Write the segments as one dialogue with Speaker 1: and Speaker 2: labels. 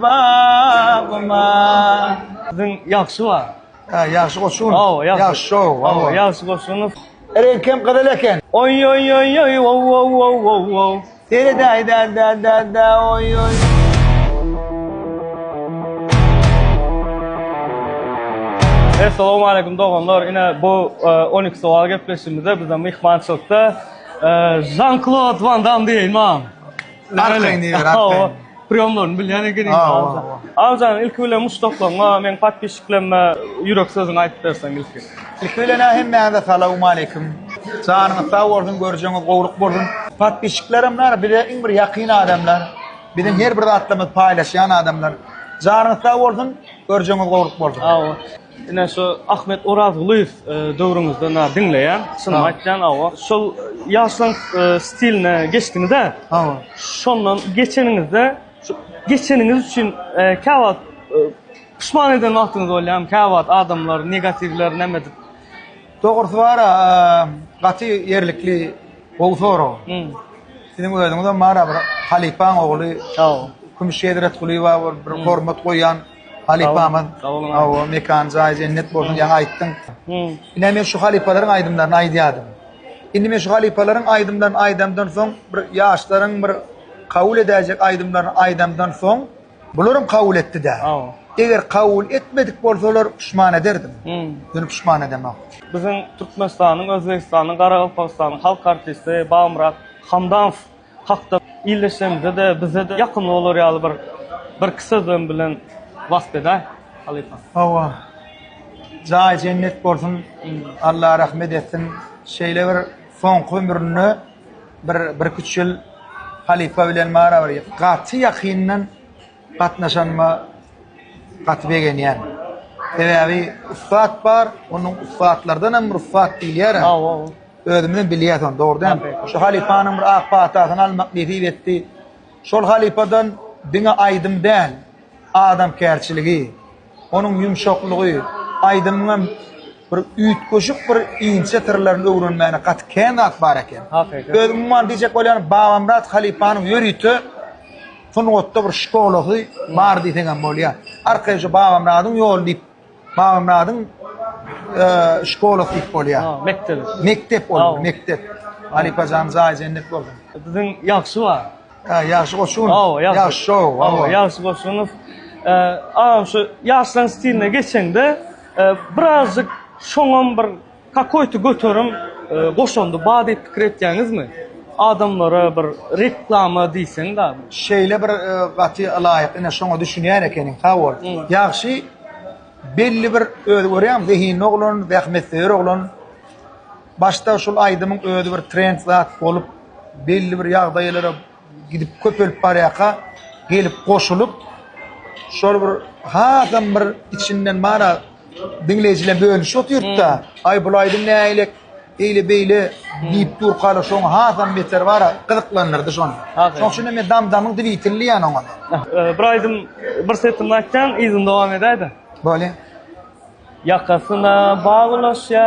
Speaker 1: bagyma.
Speaker 2: Siziň
Speaker 1: ýagşy bar. Hä ýagşy goşun. Hawa ýagşy. Ýagşy şou.
Speaker 2: Hawa ýagşy goşuny. Reňk hem gyzyl eken. Oýoýoýoý
Speaker 1: wowowowowwow. Seredäý
Speaker 2: dä dä dä
Speaker 1: dä oýoý. Essalawmaleýkum doganlar ine bu on iki sowal gepleşigimizde bize myhmançylykda Žan Klod Van Dam diýeýin maňa. Arkaýyn
Speaker 2: diýiber, arkaýyn. Priýomlaryny bilýän
Speaker 1: ekeniň Awjan. Awjan ilki bilen muşdaklaryňa, meň podpisçiklerime ýürek sözüňi aýdyp berseň ilki. Ilki bilen-ä
Speaker 2: hemmäňize salawmaleýkim. Janyňyz sag bolsun, görjegiňiz gowulyk bolsun. Podpisçiklerim bar, bize iň bir ýakyn adamlar. Biziň her bir zatlarymyzy paýlaşýan adamlar. Janyňyz sag bolsun, görjegiňiz gowulyk bolsun. Ine şu
Speaker 1: Ahmet Orazgulyýew döwrüňizde na diňleýän, çynymy aýtýan awa. Şol ýaşlaň stiline geçdiňiz-ä. Hawa. Şondan geçeniňizde şu geçeniňiz üçin käwagt puşman eden wagtyňyz bolýarmy? Käwagt adamlar negatiwler näme edip? Dogrusy
Speaker 2: bar-a, gaty ýerlikli, gowy sorag. Siziň özüňizem bar-a bir halypaň ogly, Kümüş Hezretgulyýewa bir hormat goýýan. Halypamyz. Sag boluň. Hawa, mekany jaýy jennet bolsun, ýaňy aýtdyň. Ine men şu halypalaryň aýdymlaryny aýdýardym. Indi men şu halypalaryň aýdymlaryny aýdamdan soň, bir ýaşlaryň bir kabul edäýjek aýdymlaryny aýdamdan soň, bularam kabul etdi-dä. Hawa. Eger kabul etmedik bolsalar, puşman ederdim. Ýöne puşman edemok. Biziň
Speaker 1: Türkmenistanyň, Özbegistanyň, Garagalpagystanyň halk artisti Babamyrat Hamdamow. hakda ildeşlerimize-de, bize-de ýakymly bolar ýaly bir birki sözlem bilen wasp edäý, halypa. Hawa.
Speaker 2: Jaýy jennet bolsun, Alla rahmet etsin. Şeýle bir soňky ömründe bir birki-üç ýyl halypa bilen barabar gaty ýakyndan gatnaşanyma gaty begenýän. Sebäbi ussat bar, onuň ussatlardanam rugsat diýilýär-ä. Hawa. Özümizem bilýäs ony, dogry dälmi? Şu halypanyň bir ak patasyny almak nesip etdi. Şol halypadan diňe aýdym däl, adamkärçiligi, Onuň ýumşaklygy, aýdymyňam bir üýtgeşik bir inçe syrlaryny öwrenmäne gaty kän zat bar eken. Öz umuman diýjek bolýanym Babamyrat halypanyň ýörite sungatda bir şkolasy bar diýseňem bolýa. Arkaýyn şu Babamyradyň ýoly diýip, Babamyradyň şkolasy diýip bolýa. Mekdebi. Mekdep ol, mekdep. Halypa janyň jaýy jennet bolsun. Siziň ýagşy
Speaker 1: bar. Ha, ýagşy goşun.
Speaker 2: Awa, ýagşy. Ýagşy şou, Awa, awa.
Speaker 1: ýagşy goşunow. Eee, agam şu ýaşlaryň stiline geçeňde, eee, birazjyk şoňam bir kakoýty göterim eee, goşandy bar diýip pikir etýäňizmi? Adamlara bir reklama diýseň damy? Şeýle bir e,
Speaker 2: gaty laýyk, ine şoňa düşünýän ekeniň, sag bol. Ýagşy belli bir özi görýäň, zehinli oglan, zähmetsöýer oglan. Başda şul aýdymyň özi bir trend zat bolup, belli bir ýagdaýlara gidip köpelip barýaka gelip goşulyp şol bir hasam bir içinden bana diňleýjiler bölüş otyrda aý bul aýdym näýlek eýle beýle diýip durkala şoň hasam beter bara gyzyklandyrdy şony şoň üçin men dam damyň dwitilli ýan oňa bir aýdym
Speaker 1: bir setini aýtsaň yzyny dowam edäýde bolýa ýakasy na baglaşýa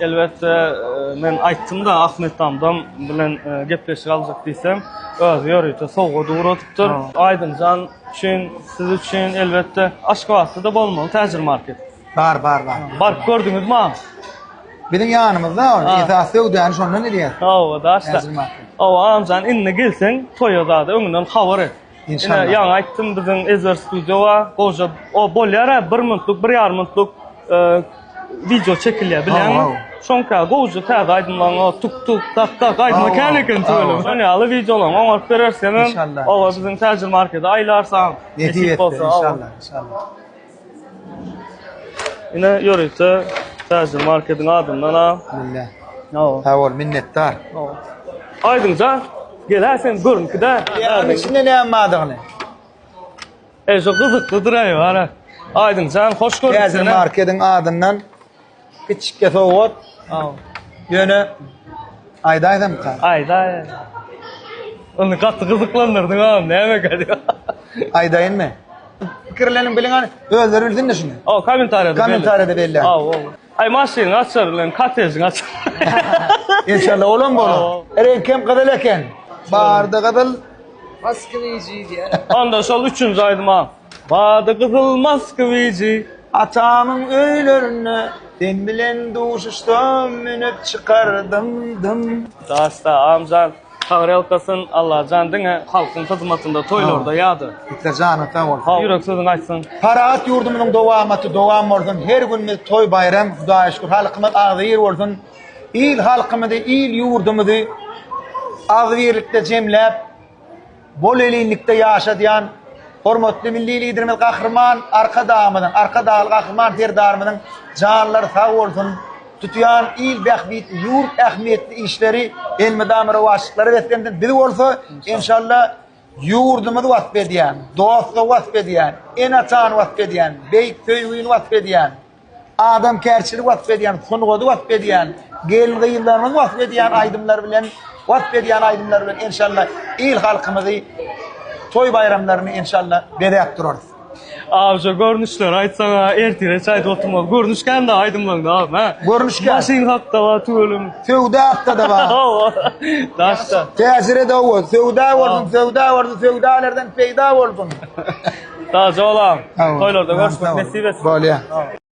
Speaker 1: Elbetde, men aýtdym-da, Ahmet Damdam bilen gepleşik aljak diýsem, özi ýörite sowgat ugradypdyr. Aýdymjan üçin, siz üçin, elbetde, Aşgabatda-da bolmaly Täjir market. Bar, bar, bar.
Speaker 2: Baryp gördüňizmi
Speaker 1: aň? Biziň
Speaker 2: ýanymyzda ol, esasy söwdäni şondan edýär. Hawa, daşda. Täjir
Speaker 1: market. Hawa, aňjan, indi gelseň, toýa zada öňünden habar et. Ine ýaňy aýtdym
Speaker 2: biziň
Speaker 1: Ezber Studio bar. Goja o bolýar a bir minutlyk, bir ýarym minutlyk wideo çekilýär bilýäňmi? Şoňka
Speaker 2: goja
Speaker 1: täze aýdymlaryň o tuk tuk tak tak aýdyma kän eken tüweleme.
Speaker 2: Şonuň ýaly
Speaker 1: wideolaryňy
Speaker 2: oňaryp
Speaker 1: bereris seniň. Oba biziň
Speaker 2: Täjir
Speaker 1: markede aýlarsaň. Nesip bolsa inşallah
Speaker 2: inşallah.
Speaker 1: Ine ýörite täjir marketiň adyndan a. Mille. No.
Speaker 2: Sag bol
Speaker 1: minnetdar.
Speaker 2: No. Aýdyň
Speaker 1: ja gelä sen görünki dä. Ýagyň içinde näme
Speaker 2: bardygyny.
Speaker 1: Eje gyzyklydyr aý bara. Aýdyň jan hoş gördük seni. Täjir marketiň
Speaker 2: adyndan. Kiçikge sowgat.
Speaker 1: Ýöne
Speaker 2: aýdaýsamka? Aýda.
Speaker 1: Ony gaty gyzyklandyrdyň agam, näme gady? Aýdaýynmy?
Speaker 2: Pikirleniň biliň hany, özleri bilsin-de şuny. Aw, kommentariýada belli.
Speaker 1: Kommentariýada belli. Aw, aw.
Speaker 2: Aý,
Speaker 1: maşynyň açar bilen kottejiň açar.
Speaker 2: Inşallah olam bolar. Reňkem gyzyl eken. Barda gyzyl. Maskynejy diýýär.
Speaker 1: Onda şol üçünji aýdym agam. Bady gyzyl Moskwiçi atamyň
Speaker 2: öýlerinde sen bilen duşuşdym münüp çykardym dym. Dasta Amjan
Speaker 1: tagrelkasyn Allajan diňe halkyň hyzmatynda toýlarda ýada. Bitte janyň sag bolsun.
Speaker 2: Sag ýürek sözüňi aýtsyn.
Speaker 1: Parahat ýurdumyzyň
Speaker 2: dowamaty dowam bolsun her günimiz toý baýram hudaýa şükür halkymyz agzybir bolsun il halkymyzy il ýurdumyzy agzybirlikde jemläp Bolelindikde ýaşadýan hormatly Milli Liderimiz Gahryman Arkadagymyzyň, Arkadagly Gahryman Serdarymyzyň janlary sag bolsun, tutýan il bähbitli, ýurt ähmiýetli işleri elmydama rowaçlyklara beslensin. Biz bolsa, enşalla, ýurdumyzy wasp edýän, dostlugy wasp edýän, ene-atany wasp edýän, beýik söýgini wasp edýän, adamkärçiligi wasp edýän, sungady wasp edýän, gelin-gyzlarymyzy wasp edýän aýdymlar bilen, wasp edýän aýdymlar bilen enşalla il-halkymyzy, toý-baýramlaryny enşalla bezäp durarys. Abi şu
Speaker 1: görnüşleri aýtsaňa ertire çaýda oturmaly. Görnüş kände aýdymlaňda abym hä? Görnüş kän. Maşyn hakda
Speaker 2: bar
Speaker 1: tüweleme. Söwda hakda-da
Speaker 2: bar. Hawa. Daşda.
Speaker 1: Täsiri dow
Speaker 2: bol. Söwda bolsun, söwda bolsun, söwdalardan
Speaker 1: peýda
Speaker 2: bolsun.
Speaker 1: Sag
Speaker 2: ol agam.
Speaker 1: Toýlarda görüşmek nesip
Speaker 2: etsin.
Speaker 1: Bolýa.